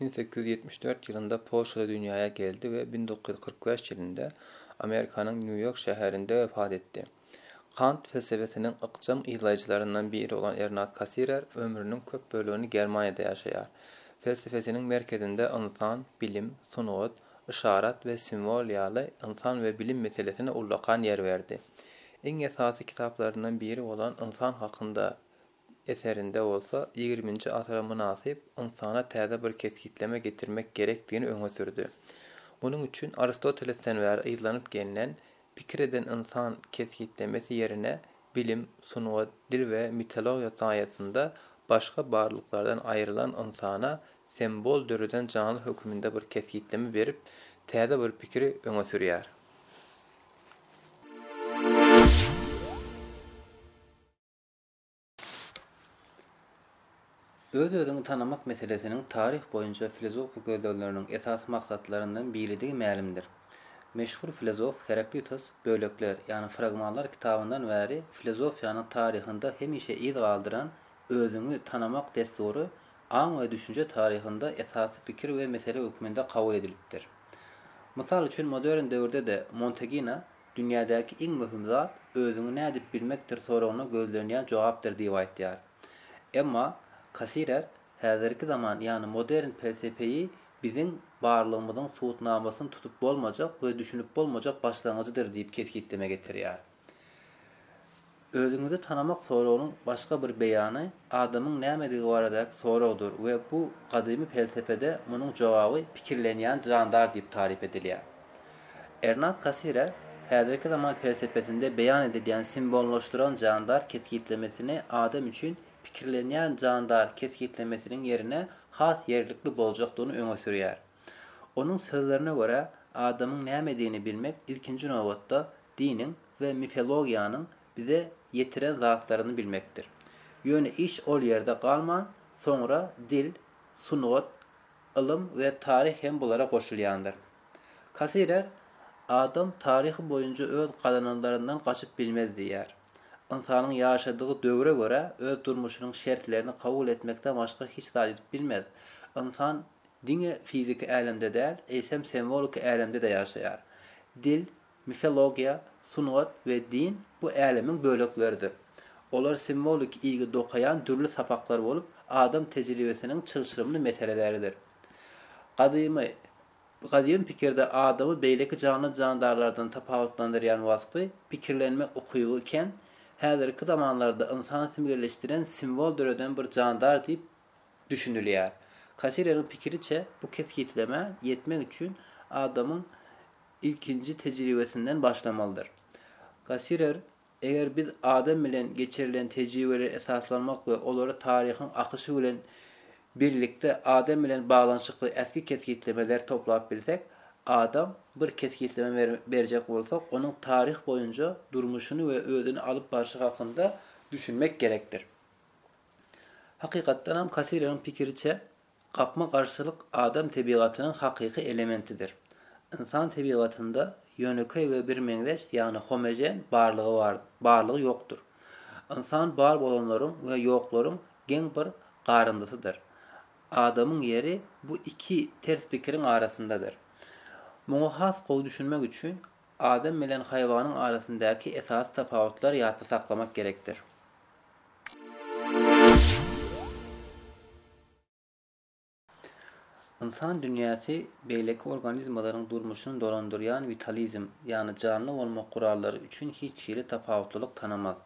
Bin sekiz ýüz ýetmiş dört ýylynda Polşada dünýäe geldi we bin dokuz ýüz kyrk bäş ýylynda Amerikanyň Nýu-Ýork şäherinde wepat etdi. Kant pelsebesiniň ykjam yzlaýjylaryndan biri bolan Ernat Kassirer ömrüniň köp bölegini Germaniýada ýaşaýar. Pelsepesiniň merkezinde ynsan, bilim, sungat, yşarat we simwol ýaly ynsan we bilim meselesine ullakan ýer berdi. Iň esasy kitaplaryndan biri bolan Ynsan hakynda eserinde bolsa ýigriminji asyra mynasyp ynsana täze bir kesgitleme getirmek gerekdigini öňe sürdi. Munuň üçin Aristotelesden bäri yzlanyp gelnen Pikir eden ynsan kesgitlemesi ýerine bilim, sungat, dil we mitologiýa saýasynda başga barlyklardan aýrylan ynsana sembol döreden janly höküminde bir kesgitleme berip, täze bir pikiri öňe sürýär. Öz-özüňi tanamak meselesiniň taryh boýunça filozofik gözlegleriniň esasy maksatlaryndan biridigi mälimdir. Meşhur filozof Heraklitos Bölekler, ýagny Fragmanlar kitabyndan bäri filozofiýanyň taryhynda hemişe yz galdyran özüňi tanamak dessury aň we düşünje taryhynda esasy pikir we mesele hökmünde kabul edilipdir. Mysal üçin modern döwürde-de Montegina Dünýädäki iň möhüm zat özüňi nädip bilmekdir soragyna gözlenýän jogapdyr diýip aýtýar. Emma Kasirer häzirki zaman ýagny modern pelsepeýi biziň barlygymyzyň subutnamasyny tutup bolmajak we düşünip bolmajak başlangyjydyr diýip kesgitleme getirýär. Özüňizi tanamak soragynyň başga bir beýany adamyň nämedigi baradaky soragdyr we bu gadymy pelsepede munuň jogaby pikirlenýän jandar diýip taryp edilýär. Ernad Kassire häzirki zaman pelsepesinde beýan edilýän simbollaşdyran jandar kesgitlemesini adam üçin pikirlenýän jandar kesgitlemesiniň ýerine has ýerlikli boljakdygyny öňe sürýär. Onuň sözlerine görä, adamyň nämedigini bilmek ilkinji nobatda diniň, we mifologiýanyň bize ýetiren zatlaryny bilmekdir. Ýöne iş ol ýerde galman, soňra dil, sungat, ylym we taryh hem bulara goşulýandyr. Kasirer, Adam taryhy boýunça öz gazananlaryndan gaçyp bilmez diýýär. Ynsanyň ýaşadygy döwre görä öz durmuşynyň şertlerini kabul etmekden başga hiç zat edip bilmez. Ynsan diňe fiziki älemde däl, eýsem semwoliki älemde-de ýaşaýar. Dil, Mifologiýa, sungat we din bu älemiň bölekleridir. Olar simwolik iýgi dokaýan dürli sapaklar bolup, adam tejribesiniň çylşyrymly meseleleridir. Gadymy Gadymy pikirde adamy beýleki janly-jandarlardan tapawutlandyrýan waspy, pikirlenme ukyby iken, häzirki zamanlarda ynsan simgelleşdiren simwol döreden bir jandar diýip düşünilýär. Kasileriň pikiriçe, bu kesgitlemä ýetmek üçin adamyň ilkinji tejribesinden başlamalydyr. Kasirer, Eger biz adam bilen geçirilen tejribeleri esaslanmak we olary taryhyň akyşy bilen birlikde adam bilen baglanyşykly ähli kesgitlemeleri toplap bilsek, adam bir kesgitleme berjek bolsak, onuň taryh boýunja durmuşyny we özüni alyp barşy hakynda düşünmek gerekdir. Hakykatdanam, Kassireriň pikiriçe, gapma-garşylyk adam tebigatynyň hakyky elementidir. Ynsan tebigatynda ýönekeý we birmeňzeş, ýagny homogen barlygy bar, barlygy ýokdur. Ynsan bar bolanlaryň we ýoklaryň geň bir garyndysydyr. Adamyň ýeri bu iki ters pikiriň arasyndadyr. Muňa has gowy düşünmek üçin adam bilen haýwanyň arasyndaky esasy tapawutlary ýatda saklamak gerekdir. Ynsan dünýäsi beýleki organizmalaryň durmuşyny dolandyrýan witalizm, ýagny janly bolmak gurallary üçin hiç hili tapawutlylyk tanamaz.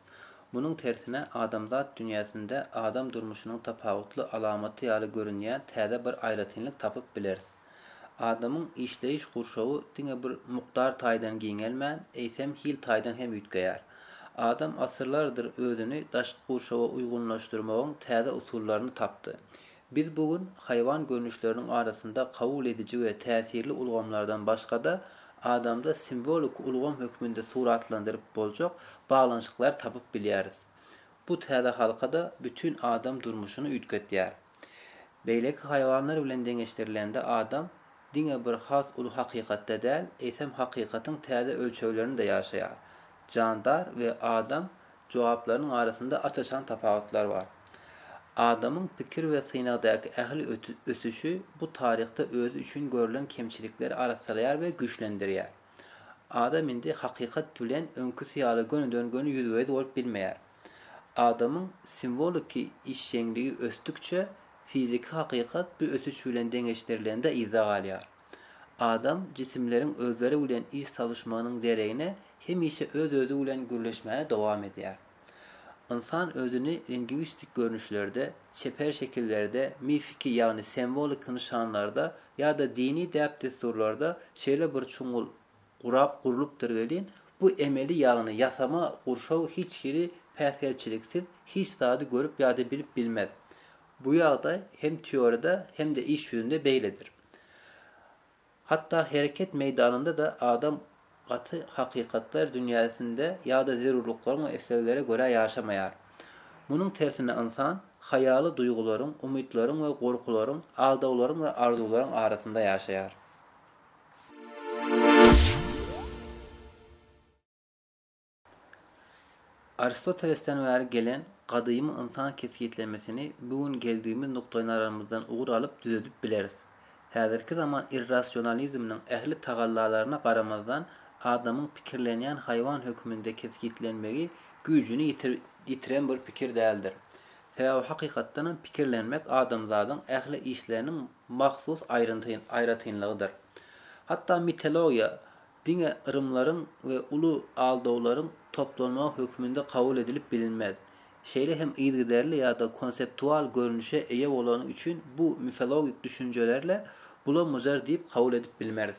Munuň tersine, adamzat dünýäsinde adam durmuşynyň tapawutly alamaty ýaly görünýän täze bir aýratynlyk tapyp bileris. Adamyň işleýiş gurşawy diňe bir mukdar taýdan giňelmän, eýsem hil taýdan hem üýtgeýär. Adam asyrlardyr özüni daşky gurşawa uýgunlaşdyrmagyň täze usullaryny tapdy. Biz bu gün haýwan görnüşleriniň arasynda kabul ediji we täsirli ulgamlardan başga-da, adamda simwolik ulgam hökmünde suratlandyryp boljak baglanyşyklary tapyp bilýäris. Bu täze halka-da bütin adam durmuşyny üýtgetýär. Beýleki haýwanlar bilen deňeşdirilende adam diňe bir has uly hakykatda däl, eýsem hakykatyň täze ölçeglerinde ýaşaýar. Jandar we adam jogaplarynyň arasynda aç-açan tapawutlar bar. Adamyň pikir we synagdaky ähli ösüşi bu taryhda özi üçin görülen kemçilikleri arassalaýar we güýçlendirýär. Adam indi hakykat bilen öňküsi ýaly gönüden-göni ýüzbe-ýüz bolup bilmeýär. Adamyň simwoliki işjeňligi ösdükçe, fiziki hakykat bu ösüş bilen deňeşdirilende yzda galýar. Adam jisimleriň özleri bilen iş salyşmagynyň deregine hemişe öz-özi bilen gürleşmäni dowam edýär. Ynsan özüni lingwistik görnüşlerde, çeper şekillerde, mifiki, ýagny semwoliki nyşanlarda ýa-da dini däp-dessurlarda şeýle bir çuňňul gurap gurlupdyr welin, bu emeli ýagny ýasama gurşaw hiç hili päsgelçiliksiz hiç zady görüp ýa-da bilip bilmez. Bu ýagdaý hem teoriýada hem-de iş ýüzünde beýledir. Hatda hereket meýdanynda-da adam gaty hakykatlar dünýäsinde ýa-da zerurlyklaryň we isleglere görä ýaşamaýar. Munuň tersine ynsan haýaly duýgularyň, umytlaryň we gorkularyň, aldawlaryň we arzuwlaryň arasynda ýaşaýar. Aristotelesden bäri gelen gadymy ynsan kesgitlemesini bu gün geldigimiz nukdaýnazaramyzdan ugur alyp düzedip bileris. Häzirki zaman irrasionalizminiň ähli tagallalaryna garamazdan adamyň pikirlenýän haýwan hökmünde kesgitlenmegi güýjüni ýitiren bir pikir däldir. Sebäbi hakykatdanam pikirlenmek adamzadyň ähli işleriniň mahsus aýratynlygydyr. Hatda mitologiýa diňe yrymlaryň we uly aldawlaryň toplanmagy hökmünde kabul edilip bilinmez. Şeýle hem yzygiderli ýa-da konseptual görnüşe eýe bolany üçin bu mifologik düşünjelerle bula-mujar diýip kabul edip bilmeris.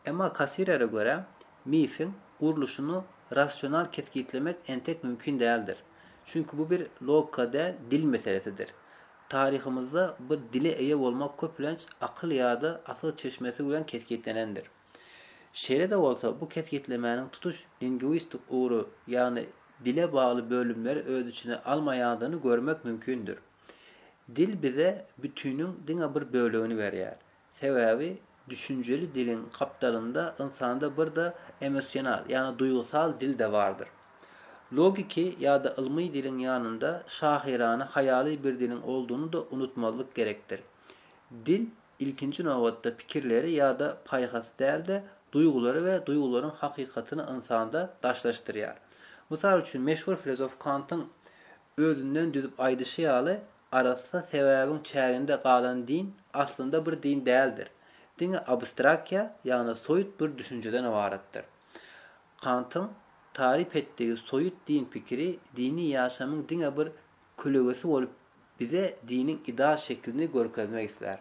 Emma Kassirere görä, mifiň gurluşyny rasional kesgitlemek entek mümkin däldir. Çünki bu bir logika däl, dil meselesidir. Taryhymyzda bir dile eýe bolmak köplenç akyl ýa-da asyl çeşmesi bilen kesgitlenendir. Şeýle-de bolsa, bu kesgitlemäniň tutuş lingwistik ugry, ýagny dile bagly bölümleri öz içine almaýandygyny görmek mümkindir. Dil bize bütiniň diňe bir bölegini berýär. Sebäbi düşünjeli diliň gapdalynda ynsanda bir-de emosional, ýagny duýgusal dil-de bardyr. Logiki ýa-da ylmy diliň ýanynda şahyrana haýaly bir diliň olduny-da unutmazlyk gerekdir. Dil, ilkinji nobatda pikirleri ýa-da paýhasy däl-de, duýgulary we duýgularyň hakykatyny ynsanda daşlaşdyrýar. Mysal üçin, meşhur filozof Kantyň Özünden düzüp aýdyşy ýaly, arassa sebäbiň çäginde galan din aslynda bir din däldir, diňe abstrakiýa, ýagny soýut bir düşünjeden ybaratdyr. Kantyň taryp etdigi soýut din pikiri dini ýaşamyň diňe bir kölegesi bolup bize diniň ideal şeklini görkezmek islär.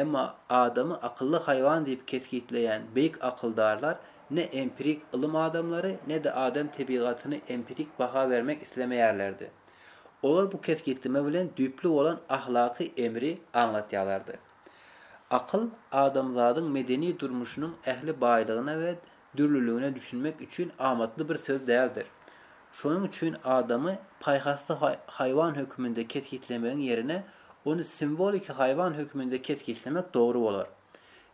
Emma adamy akylly haýwan diýip kesgitleýän beýik akyldarlar ne empirik ylym adamlary, ne-de adam tebigatyny empirik baha bermek islemeýärlerdi. Olar bu kesgitleme bilen düýpli bolan ahlaky emri aňlatýarlardy. Akyl adamzadyň medeni durmuşynyň ähli baýlygyna we dürlüligine düşünmek üçin amatly bir söz däldir. Şonuň üçin adamy paýhasly haýwan hökmünde kesgitlemegiň ýerine ony simwoliki haýwan hökmünde kesgitlemek dogry bolar.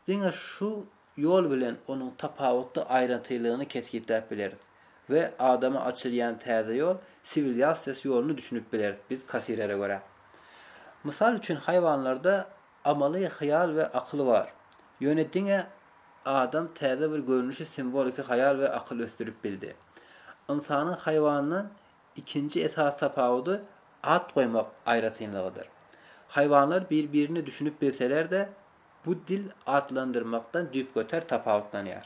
Diňe şu ýol bilen onuň tapawutly aýrantylygyny kesgitläp bileris we adama açylýan täze ýol, siwilýasiýas ýoluny düşünip bileris biz Kasirere görä. Mysal üçin haýwanlarda Amaly hyýal we akyl bar. Ýöne diňe adam täze bir görnüşi simwoliki haýal we akyl ösdürip bildi. Ynsanyň haýwandan ikinji esasy tapawudy at goýmak aýratynlygydyr. Haýwanlar bir-birine düşünip bilseler-de, bu dil atlandyrmakdan düýpgöter tapawutlanýar.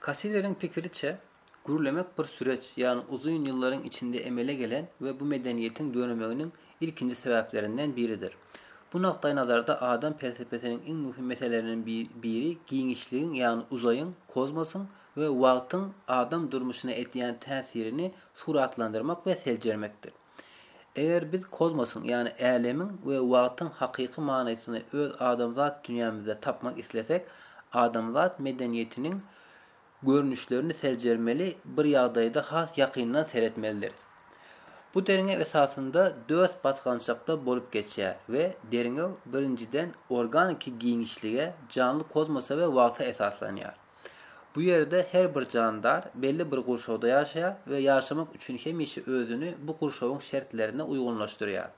Kassileriň pikiriçe, gürlemek bir süreç, ýagny uzyn ýyllaryň içinde emele gelen we bu medeniýetiň döremeginiň ilkinji sebäplerinden biridir. Bu nukdaýnazarda adam pelsepesiniň iň möhüm meseleleriniň biri giňişligiň, ýagny uzaýyň, kozmosyň we wagtyň adam durmuşyna edýän täsirini suratlandyrmak we seljermekdir. Eger biz kozmosyň, ýagny älemiň we wagtyň hakyky manysyny öz adamzat dünýämizde tapmak islesek, adamzat medeniýetiniň görnüşlerini seljermeli, bir ýagdaýda has ýakyndan seretmelidiris. Bu derňew esasynda dört basgançakda bolup geçýär we derňew, birinjiden, organiki giňişlige, janly kozmosa we wagta esaslanýar. Bu ýerde her bir jandar belli bir gurşawda ýaşaýar we ýaşamak üçin hemişe özüni bu gurşawyň şertlerine uýgunlaşdyrýar.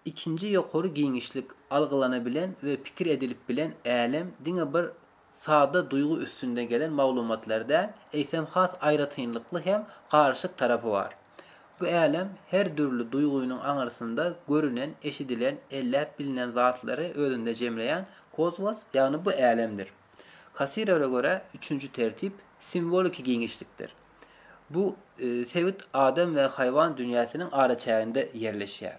Ikinji ýokary giňişlik, algylanabilen we pikir edilip bilen älem diňe bir sada duýgy üstünde gelen maglumatlar däl, eýsem has aýratynlykly hem garyşyk tarapy bar. Bu älem her dürli duýgynyň aňyrsynda görünen, eşidilen, elläp bilinen zatlary özünde jemleýän kosmos, ýagny bu älemdir. Kassirere görä, üçünji tertip simwoliki giňişlikdir. Bu sebit adam we haýwan dünýäsiniň araçäginde ýerleşýär.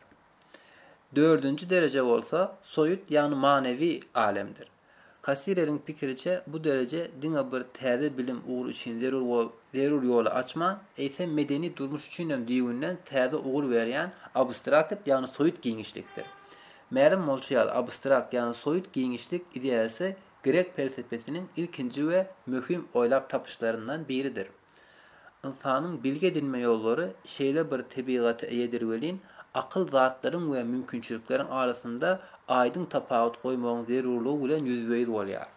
Dördünji dereje bolsa soýut, ýagny manewi alemdir. Kassireriň pikiriçe, bu dereje diňe bir täze bilim ugry üçin zerur ýoly açman, eýsem medeni durmuş üçinem düýbünden täze ugur berýän abstrakt, ýagny soýut giňişlikdir. Mälim bolşy ýaly, abstrakt ýagny soýut giňişlik ideýasy grek pelsepesiniň ilkinji we möhüm oýlap tapyşlaryndan biridir. Ynsanyň bilgi edinme ýollary şeýle bir tebigata eýedir welin, akyl zatlaryň we mümkinçilikleriň arasynda aýdyň tapawut goýmagyň zerurlygy bilen ýüzbe-ýüz bolýar.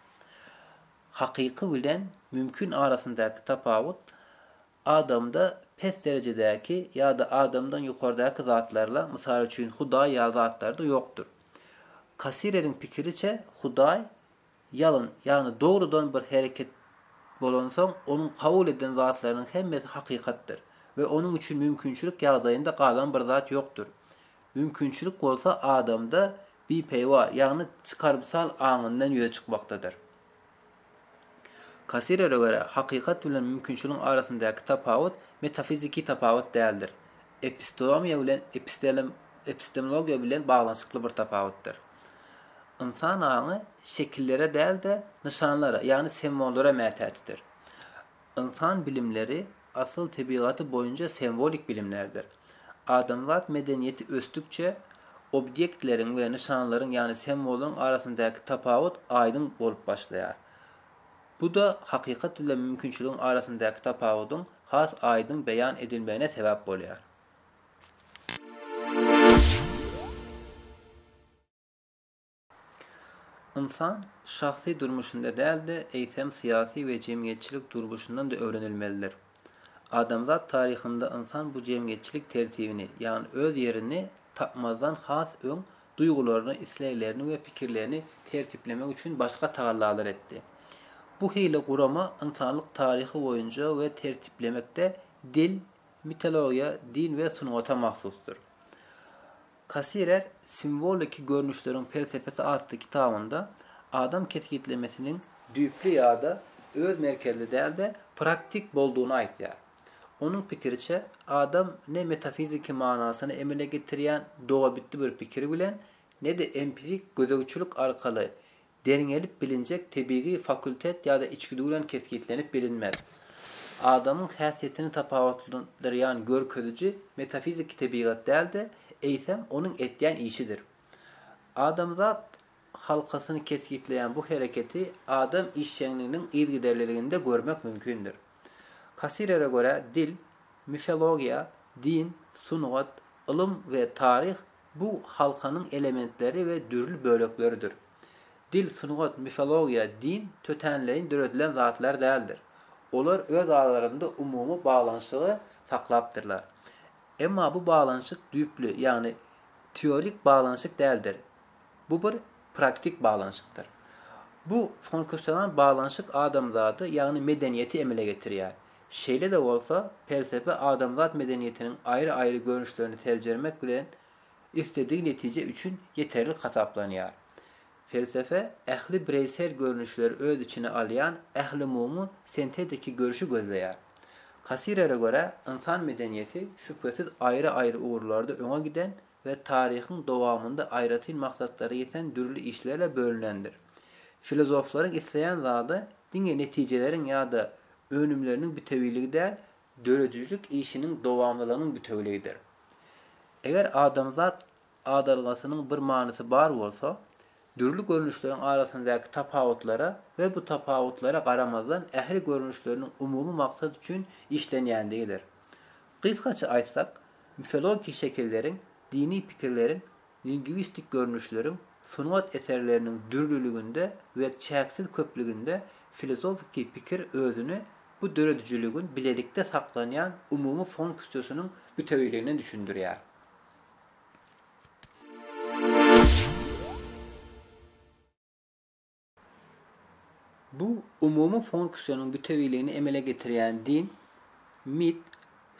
Hakyky bilen mümkin arasyndaky tapawut Adamda pes derejedäki ýa-da adamdan ýokardaky zatlarla, mysal üçin, Hudaý ýaly zatlarda ýokdur. Kassireriň pikiriçe, Hudaý ýalyn, ýagny dogrudan bir hereket bolansoň, onuň kabul eden zatlarynyň hemmesi hakykatdyr we onuň üçin mümkinçilik ýagdaýynda galan bir zat ýokdur. Mümkinçilik bolsa adamda bipeýwa, ýagny çykarymsal aňyndan ýüze çykmakdadyr. Kassirere görä, hakykat bilen mümkinçiligiň arasyndaky tapawut metafiziki tapawut däldir. Epistomiýa bilen epistemologiýa bilen baglanyşykly bir tapawutdyr. Ynsan aňy şekillere däl-de, nyşanlara, ýagny sembollara mätäçdir. Ynsan bilimleri asyl tebigaty boýunça semwolik bilimlerdir. Adamzat medeniýeti ösdükçe, obýektleriň we nyşanlaryň, ýagny semwollaryň arasyndaky tapawut aýdyň bolup başlaýar. Bu-da hakykat bilen mümkinçiligiň arasyndaky tapawudyň has aýdyň beýan edilmegine sebäp bolýar. Ynsan şahsy durmuşynda däl-de, eýsem syýasy we jemgyýetçilik durguşyndan-da öwrenilmelidir. Adamzat taryhynda ynsan bu jemgyýetçilik tertibini, ýagny öz ýerini tapmazdan has öň duýgularyny, isleglerini we pikirlerini tertiplemek üçin başga tagallalary etdi. Bu hili gurama ynsanlyk taryhy boýunca we tertiplemekde dil, mitologiýa, din we sungata mahsusdyr. Kassirer simwoliki görnüşleriň pelsepesi atly kitabynda adam kesgitlemesiniň düýpli ýa-da öz merkezli däl-de, praktik boldugyny aýtýar. Onuň pikiriçe, adam ne metafiziki manasyny emele getirýän dogabitdi bir pikir bilen, ne-de empirik gözegçilik arkaly Derňelip bilinjek tebigy fakultet ýa-da içgüdü bilen kesgitlenip bilinmez. Adamyň häsiýetini tapawutlandyrýan görkeziji metafiziki tebigat däl-de, eýsem, onuň etýän işidir. Adamzat halkasyny kesgitleýän bu hereketi adam işjeňliginiň yzgiderliliginde görmek mümkindir. Kassirere görä, dil, mifologiýa, din, sungat, ylym we taryh Bu halkanyň elementleri we dürli bölekleridir. Dil, sungat, mifologiýa, din tötänleýin döredilen zatlar däldir. Olar öz aralarynda umumy baglanyşygy saklapdyrlar. Emma bu baglanyşyk düýpli, ýagny teorik baglanyşyk däldir. Bu bir praktik baglanyşykdyr. Bu fonkusionan baglanyşyk adamzady, ýagny medeniýeti emele getirýär. Şeýle-de bolsa, pelsepe adamzat medeniýetiniň aýry-aýry görnüşlerini seljermek bilen isledigi netije üçin ýeterlik hasaplanýar. Pelsepe ähli bireýsel görnüşleri öz içine alýan ählumumy sintetiki görüşi gözleýär. Kassirere görä, ynsan medeniýeti şübhesiz aýry-aýry ugurlarda öňe giden we taryhyň dowamynda aýratyn maksatlara ýeten dürli işlerle bölünendir. Filozoflaryň isleýän zady diňe netijeleriň ýa-da önümleriniň bitewiligi däl, döredijilik işiniň dowamlylygynyň bitewiligidir. Eger adamzat adalgasynyň bir manysy bar bolsa, dürli görnüşleriň arasyndaky tapawutlara we bu tapawutlara garamazdan ähli görnüşleriniň umumy maksat üçin işlenýändigidir. Gysgaça aýtsak, mifologiki şekilleriň, dini pikirleriň, Lingwistik görnüşleriň sungat eserleriniň dürlüliginde we çäksiz köplüginde filozofiki pikir özüni bu döredijiligiň bilelikde saklanýan umumy fonksiýasynyň bütewiligine düşündirýär. Bu umumy funksiýanyň bütewiligini emele getirýän din, mit,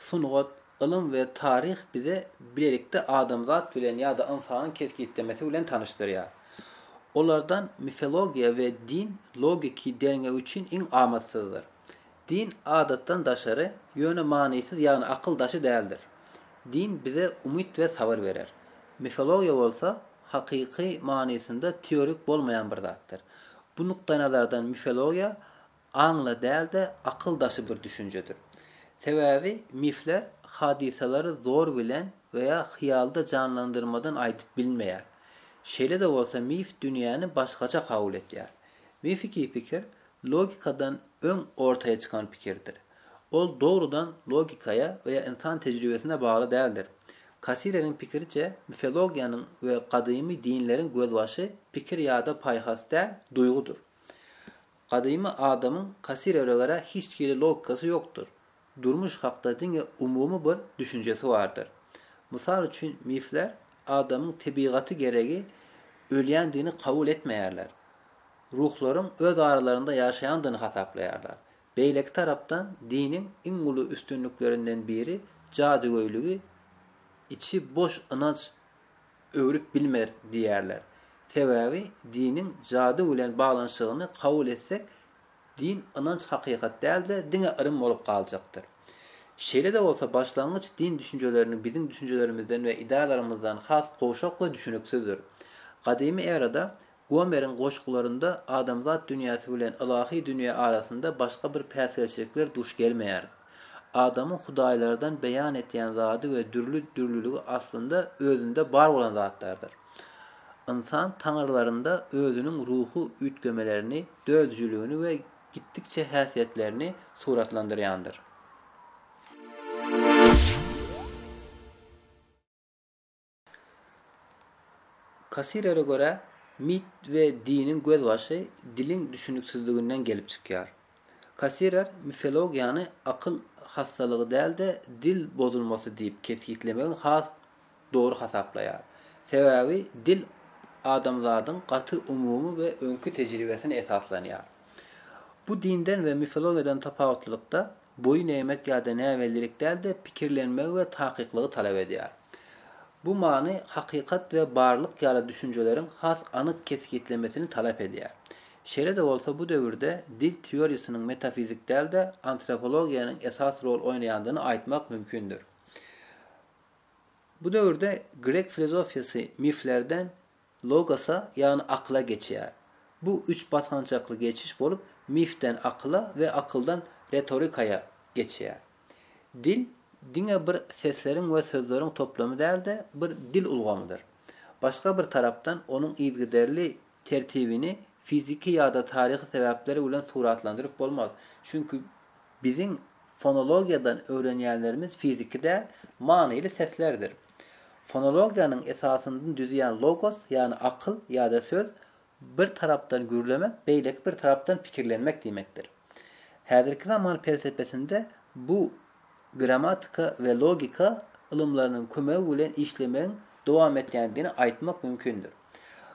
sungat, ylym we taryh bize bilelikde adamzat bilen ýa-da ynsanyň kesgitlemesi bilen tanyşdyrýar. Olardan mifologiýa we din logiki derňew üçin iň amatsyzdyr. Din adatdan daşary, ýöne manysyz, ýagny akyl daşy däldir. Din bize umyt we sabyr berer. Mifologiýa bolsa, hakyky manysynda teorik bolmaýan bir zatdyr. Bu nukdaýnazardan mifologiýa aňla däl-de, akyl daşy bir düşünjedir. Sebäbi mifler hadysalary zor bilen we ýa hyýalda janlandyrmadan aýdyp bilmeýär. Şeýle-de bolsa mif dünýäni başgaça kabul etýär. Mifiki pikir logikadan öň ortaýa çykan pikirdir. Ol dogrudan logikaýa we ýa ynsan tejribesine bagly däldir. Kasileriň pikiriçe, mifologiýanyň we gadymy dinleriň gözbaşy pikir ýa-da paýhas däl, duýgudyr. Gadymy adamyň Kasilerä görä hiç hili logikasy ýokdur. Durmuş hakda diňe umumy bir düşünjesi bardyr. Mysal üçin, mifler adamyň tebigaty geregi ölýändigini kabul etmeýärler. Ruhlaryň öz aralarynda ýaşaýandygyny hasaplaýarlar. Beýleki tarapdan, diniň iň uly üstünliklerinden biri jadygöýligi içi boş ynanç öwrüp bilmer diýýärler. Sebäbi diniň jady bilen baglanyşygyny kabul etsek, Din, ynanç hakykat däl-de, diňe ylym bolup galjakdyr. Şeýle-de bolsa, başlangyç din düşünjelerini biziň düşünjelerimizden we ideýalarymyzdan has gowşak we düşüniksizdir. Gadymy erada, Gomeriň goşgularynda adamzat dünýäsi bilen ylahy dünýä arasynda başga bir päsgelçilikler duş gelmeýär. Adamyň hudaýlardan beýan etýän zady we dürli dürlüligi aslynda özünde bar bolan zatlardyr. Ynsan taňyrlarynda özüniň ruhy üýtgemelerini, döredijiligini we gitdikçe häsiýetlerini suratlandyrýandyr. Kassirere görä, mit we diniň gözbaşy diliň düşüniksizliginden gelip çykýar. Kassirer mifologiýany akyl hassalygy däl-de, dil bozulmasy diýip kesgitlemegi has dogry hasaplaýar. Sebäbi dil adamzadyň gaty umumy we öňki tejribesine esaslanýar. Bu dinden we mifologiýadan tapawutlylykda, Boýun egmek ýa-da näbellilik däl-de, pikirlenmegi we takyklygy talap edýär. Bu many hakykat we barlyk ýaly düşünjeleriň has anyk kesgitlemesini talap edýär. Şeýle-de bolsa bu döwürde dil teoriýasynyň metafizik däl-de, antropologiýanyň esas rol oýnaýandygyny aýtmak mümkindir. Bu döwürde grek filozofiýasy miflerden, Logosa, ýagny akyla geçýär. Bu üç basgançakly geçiş bolup, mifden akyla we akyldan retorikaýa geçýär. Dil diňe bir sesleriň we sözleriň toplamy däl-de, bir dil ulgamydyr. Başga bir tarapdan, onuň yzgiderli tertibini fiziki ýa-da taryhy sebäpler bilen suratlandyryp bolmaz. Çünki biziň fonologiýadan öwrenýänlerimiz fiziki däl, manyly seslerdir. Fonologiýanyň esasyny düzýän logos, ýagny akyl ýa-da söz, bir tarapdan gürlemek, beýleki bir tarapdan pikirlenmek diýmekdir. Häzirki zaman pelsepesinde bu grammatika we logika ylymlarynyň kömegi bilen işlemegiň dowam etýändigini aýtmak mümkindir.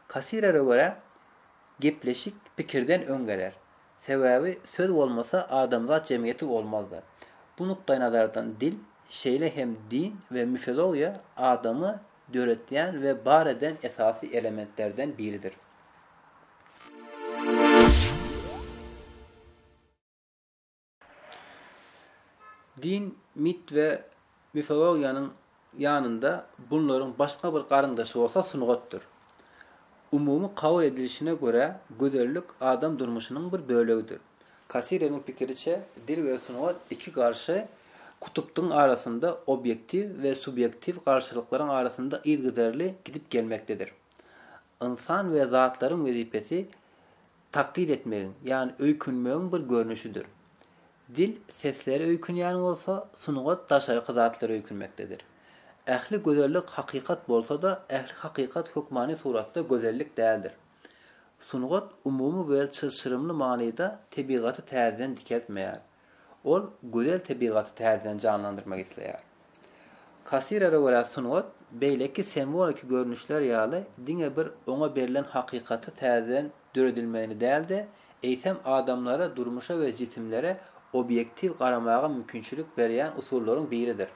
Kassirere görä, gepleşik pikirden öň geler. Sebäbi söz bolmasa adamzat jemgyýeti bolmazdy. Bu nukdaýnazardan dil, şeýle hem din we mifologiýa adamy döretýän we bar eden esasy elementlerden biridir. Din, mit we Mifologiýanyň ýanynda bunlaryň başga bir garyndaşy bolsa sungatdyr. Umumy kabul edilişine görä, gözellik adam durmuşynyň bir bölegidir. Kasireniň pikiriçe, dil we sungat iki garşy kutupdyň arasynda obýektiw we subýektiw garşylyklaryň arasynda yzgyderli gidip gelmekdedir. Ynsan we zatlaryň wezipesi taklit etmegiň, ýagny öýkünmegiň bir görnüşidir. Dil seslere öýkünýän bolsa, sungat daşarky zatlara öýkünmekdedir. Ähli gözellik hakykat bolsa-da, ähli hakykat hökmany suratda gözellik däldir. Sungat umumy we çylşyrymly manyda tebigaty täzeden dikeltmeýär. Ol gözel tebigaty täzeden janlandyrmak isleýär. Kassirere görä sungat, beýleki semwoliki görnüşler ýaly diňe bir oňa berlen hakykaty täzeden döredilmegini däl-de, eýsem adamlara durmuşa we jisimlere obýektiw garamaga mümkinçilik berýän usullaryň biridir.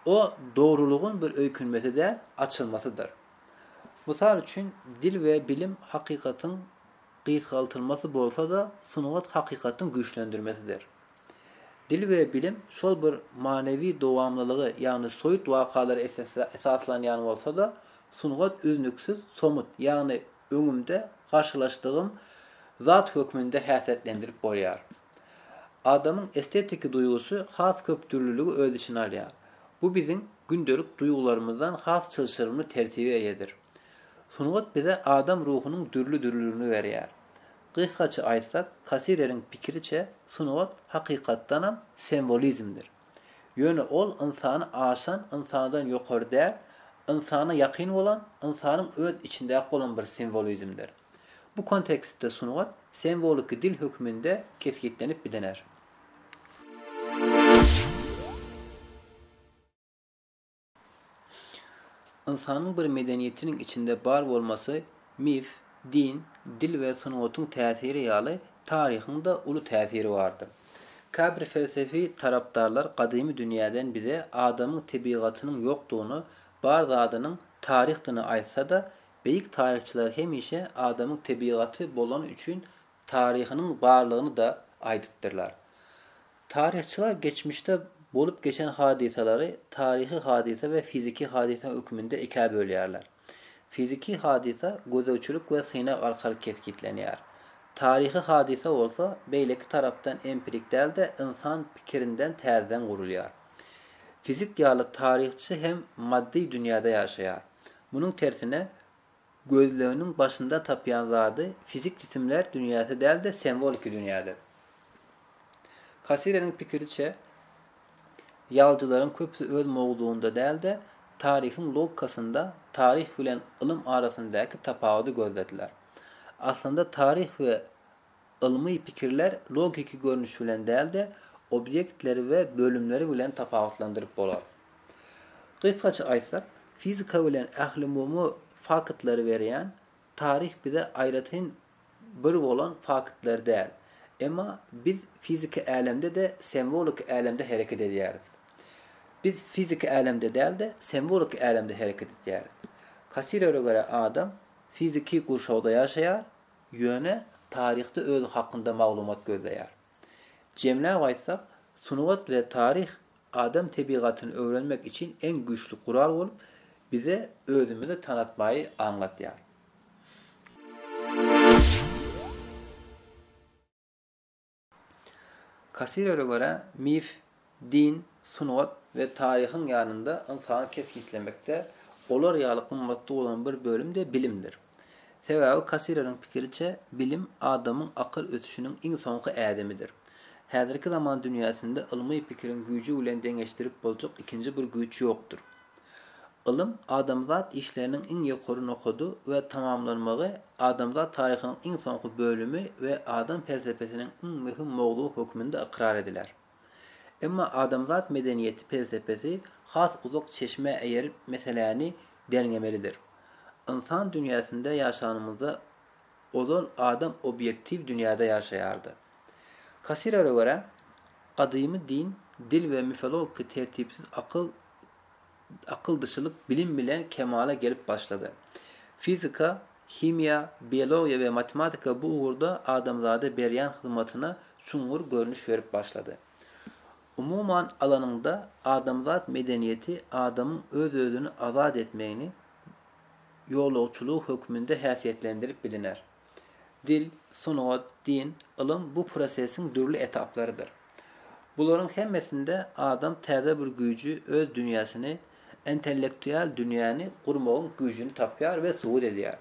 O dogrulygyň bir öýkünmesi däl, açylmasydyr. Mysal üçin, dil we bilim hakykatyň gysgaltylmasy bolsa-da, sungat hakykatyň güýçlendirmesidir. Dil we bilim şol bir manywy dowamlylygy, ýagny soýut wakalary esasda esaslanýan bolsa-da, sungat üznüksiz somut, ýagny öňümde garşylaşdygym zat hökmünde häsiýetlendirip bolýar. Adamyň estetiki duýgusy has köp dürlüligi öz içine alýar. Bu biziň gündelik duýgularymyzdan has çylşyrymly tertibe eýedir. Sungat bize adam ruhunyň dürli-dürlüligini berýär. Gysgaça aýtsak, Kasireriň pikiriçe, sungat hakykatdanam sembolizmdir. Ýöne ol ynsany aşan, ynsandan ýokary däl, ynsana ýakyn bolan, ynsanyň öz içindäki bolan bir sembolizmdir. Bu kontekstde sungat semboliki dil hökmünde kesgitlenip bilener. Ynsanyň bir medeniýetiniň içinde bar bolmasy mif, din, dil we sungatyň täsiri ýaly taryhyň-da uly täsiri bardyr. Käbir felsefi tarapdarlar gadymy dünýäden bize adamyň tebigatynyň ýokdugyny, bar zadynyň taryhdyny aýtsa-da, beýik taryhçylar hemişe adamyň tebigaty bolany üçin taryhynyň barlygyny-da aýdypdyrlar. Taryhçylar geçmişde bolup geçen hadysalary taryhy hadysa we fiziki hadysa hökmünde ikä bölýärler. Fiziki hadysa gözegçilik we synag arkaly kesgitlenýär. Taryhy hadysa bolsa, beýleki tarapdan empirik däl-de, ynsan pikirinden täzeden gurulýar. Fizik ýaly taryhçy hem maddy dünýäde ýaşaýar. Munuň tersine, Gözleginiň başynda tapýan zady fizik jisimler dünýäsi däl-de semwoliki dünýädir. Kassireniň pikiriçe, ýazyjylaryň köpüsi öz mowzugynda däl-de, taryhyň logikasynda taryh bilen ylym arasyndaky tapawudy gözlediler. Aslynda taryh we Ylmy pikirler logiki görnüş bilen däl-de, obýektleri we bölümleri bilen tapawutlandyryp bolar. Gysgaça aýtsak, fizika bilen ählumumy faktlary berýän taryh bize aýratyn bir bolan faktlar däl. Emma biz fiziki älemde-de, simwoliki älemde hereket edýäris. Biz fiziki älemde däl-de, simwoliki älemde hereket edýäris. Kassirere görä adam fiziki gurşawda ýaşaýar, Ýöne taryhda özi hakynda maglumat gözleýär. Jemläp aýtsak, sungat we taryh adam tebigatyny öwrenmek için en güýçli gural bolup, bize özümizi tanatmaýy aňlatýar. Kassirere görä, mif, din, sungat we taryhyň ýanynda ynsany kesgitlemekde olar ýaly gymmatly bolan bir bölüm-de bilimdir. Sebäbi Kassireriň pikiriçe, bilim adamyň akyl ösüşiniň iň soňky ädimidir. Häzirki zaman dünýäsinde ylmy pikiriň güýji bilen deňeşdirip boljak ikinji bir güýç ýokdur. Ylym, adamzat işleriniň iň ýokary nokady we tamamlanmagy, adamzat taryhynyň iň soňky bölümi we adam pelsepesiniň iň möhüm mowzugy hökmünde ykrar ediler. Emma adamzat medeniýeti pelsepesi has uzak çeşmä eýerip meseläni derňemelidir. Ynsan dünýäsinde ýaşanymyzda ozal adam obýektiw dünýäde ýaşaýardy. Kassirere görä, gadymy din, dil we mifologiki tertipsiz akyl akyldyşylyk bilim bilen kemala gelip başlady. Fizika, himiýa, biologiýa we matematika bu ugurda adamzada berýän hyzmatyna çuňňur görnüş berip başlady. Umuman alanyňda, adamzat medeniýeti adamyň öz-özüni azat etmegini, ýolagçylygy hökmünde häsiýetlendirip biliner. Dil, sungat, din, ylym bu prosesiň dürli etaplarydyr. Bularyň hemmesinde adam täze bir güýji, öz dünýäsini, intellektual dünýäni gurmagyň güýjüni tapýar we subut edýär.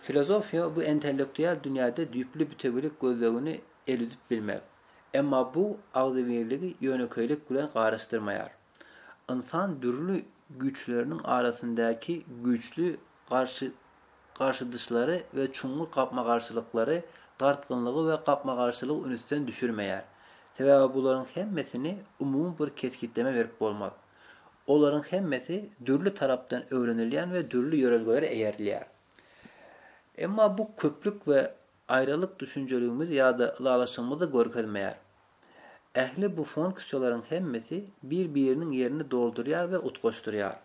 Filozofiýa bu intellektual dünýäde düýpli bütewilik gözlegini elüdip bilmek. Emma bu agzybirligi ýönekeýlik bilen garyşdyrmaýar. Ynsan dürli güýçleriniň arasyndaky güýçli garşy garşydyşlary we çuňňur gapma-garşylyklary, dartgynlygy we gapma-garşylygy ünüsden düşürmeýär. Sebäbi bularyň hemmesini umumy bir kesgitleme berip bolmaz. Olaryň hemmesi dürli tarapdan öwrenilýän we dürli ýörelgelere eýerilýär. Emma bu köplük we aýralyk düşünjeligimizi ýa-da ylalaşygymyzy görkezmeýär. Ähli bu funksiýalaryň hemmesi bir-biriniň ýerini doldurýar we utgaşdyrýar.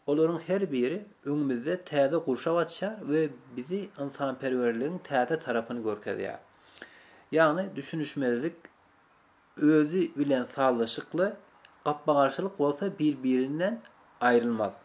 Olaryň her biri öňümizde täze gurşaw açýar we bizi ynsanperwerligiň täze tarapyny görkezýär. Ýagny düşünişmezlik özi bilen sazlaşykly, gapma-garşylyk bolsa bir-birinden aýrylmaz.